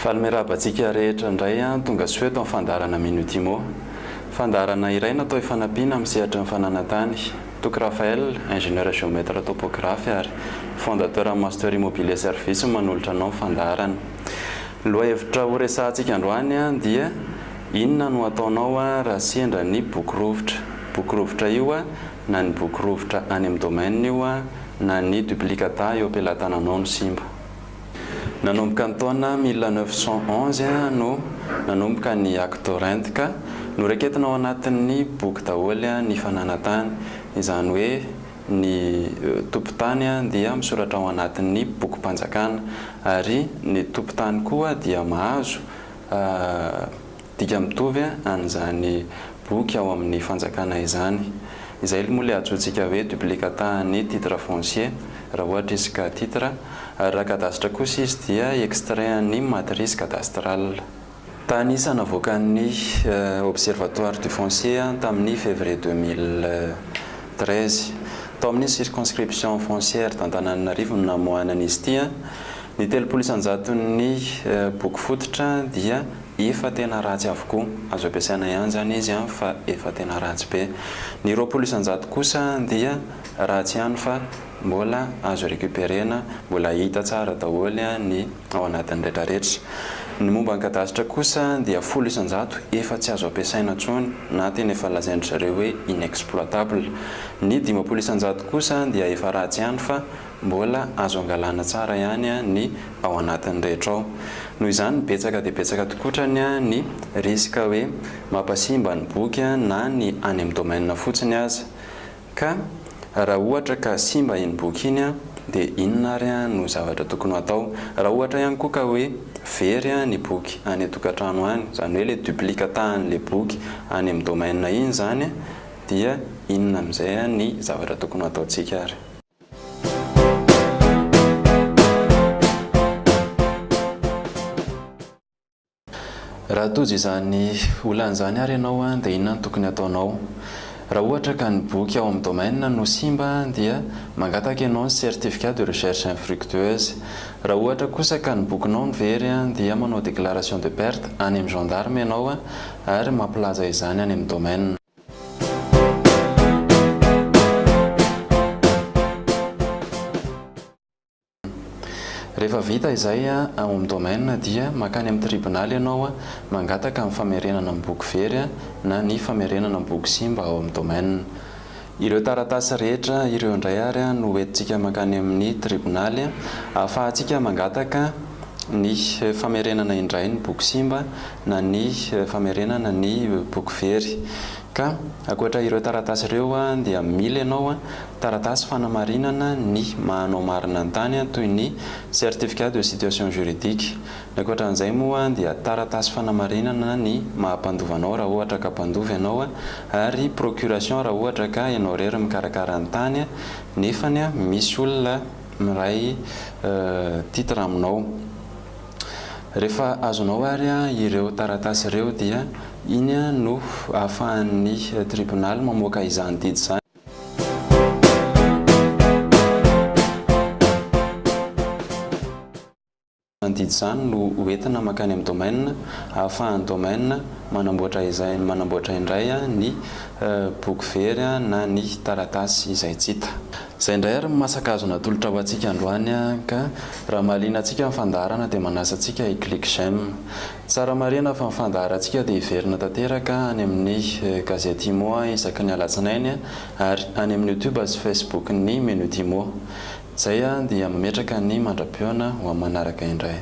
Faly miarahaba antsika rehetra indray tonga soa eto amin'ny fandaharana Minute Imo. Fandaharana iray natao hifanampiana amin'ny sehatry ny fananan-tany. Toky Raphaël, ingénieur géomètre topographe ary fondateur Master Immobilier Service no manolotra anao ny fandaharana. Ny lohahevitra horesahantsika androany dia Inona no hataonao raha sendra ny boky rovitra? Boky rovitra io na ny boky rovitra any amin'ny domaine io na ny duplicata eo am-pelatananao no simba. Nanomboka ny taona mille neuf cent onze no nanomboka ny actes rent ka noraiketina ao anatin'ny boky daholo ny fananantany, izany hoe ny tompon-tany dia misoratra ao anatin'ny bokim-panjakana ary ny tompon-tany koa dia mahazo. Dika mitovy an'izany boky ao amin'ny Fanjakana izany. Izay moa ilay antsointsika hoe duplicata an'ny titre foncier, raha ohatra izy ka titre, ary raha cadastre kosa izy dia extrait an'ny matrice cadastrale. Tany Isa navoakan'ny Observatoire du Foncier tamin'ny février deux mille treize. Tao amin'ny circonscription foncière d'Antananarivo no namoahana an'izy ity. Ny telopolo isan-jaton'ny boky fototra dia. Efa tena ratsy avokoa. Azo ampiasaina ihany izany izy an, fa efa tena ratsy be. Ny roapolo isan-jato kosa dia ratsy ihany fa mbola azo recuperer-na, mbola hita tsara daholo ny ao anatiny retraretra. Ny momba ny kadasitra kosa dia folo isan-jato efa tsy azo ampiasaina intsony na tena efa lazain-dry zareo hoe inexploitable. Ny dimampolo isan-jato kosa dia efa ratsy ihany fa Mbola azo angalana tsara ihany ny ao anatiny rehetra ao. Noho izany, betsaka dia betsaka tokoa hatrany ny risque hoe mampasimba ny boky na ny any amin'ny domaine fotsiny aza. Ka raha ohatra ka simba iny boky iny dia inona ary no zavatra tokony ho atao? Raha ohatra ihany koa ka hoe very ny boky any an-tokantrano any, izany hoe ilay duplicatahan'ilay boky any amin'ny domaine iny izany dia inona amin'izay ny zavatra tokony ho ataontsika ary? Raha tojo izany olana izany ary ianao dia inona no tokony hataonao? Raha ohatra ka ny boky ao amin'ny domaine no simba dia mangataka ianao ny certificat de recherche infructueuse. Raha ohatra kosa ka ny bokinao no very dia manao déclaration de perte any amin'ny gendarme ianao ary mampilaza izany any amin'ny domaine. Rehefa vita izay an, home domaine dia makany amin'ny tribonaly ianao an, mangataka ny famerenana ny boky very an, na ny famerenana ny boky simba ao amin'ny domaine. Ireo taratasy rehetra ireo indray ary an no hoentintsika mankany amin'ny tribonaly an, ahafahantsika mangataka ny famerenana indray ny boky simba na ny famerenana ny boky very. Ka ankoatra ireo taratasy ireo dia mila ianao taratasy fanamarinana ny maha anao marina ny tany toy ny certificat de situation juridique. Ny ankoatra an'izay moa dia taratasy fanamarinana ny maha mpandova anao raha ohatra ka mpandova ianao ary procuration raha ohatra ka ianao irery mikarakara ny tany nefany misy olona miray titre aminao. Rehefa azonao ary ireo taratasy ireo dia iny no ahafahan'ny tribonaly mamoaka izany didy izany. Izany didy izany no hoentina mankany amin'ny domaine ahafahan'ny domaine manamboatra izay manamboatra indray ny boky very na ny taratasy izay tsy hita. Zay indray ary ny masaka azo natolotra ho antsika androany a! Ka raha mahaliana antsika ny fandaharana dia manasa antsika hi click j'aime. Tsara marihina fa ny fandaharantsika dia hiverina tanteraka any amin'ny Gazety Imo isaky ny alatsinainy ary any amin'ny youtube sy facebook ny Minute Imo. Zay a! Dia mametraka ny mandrapiona ho amin'ny manaraka indray.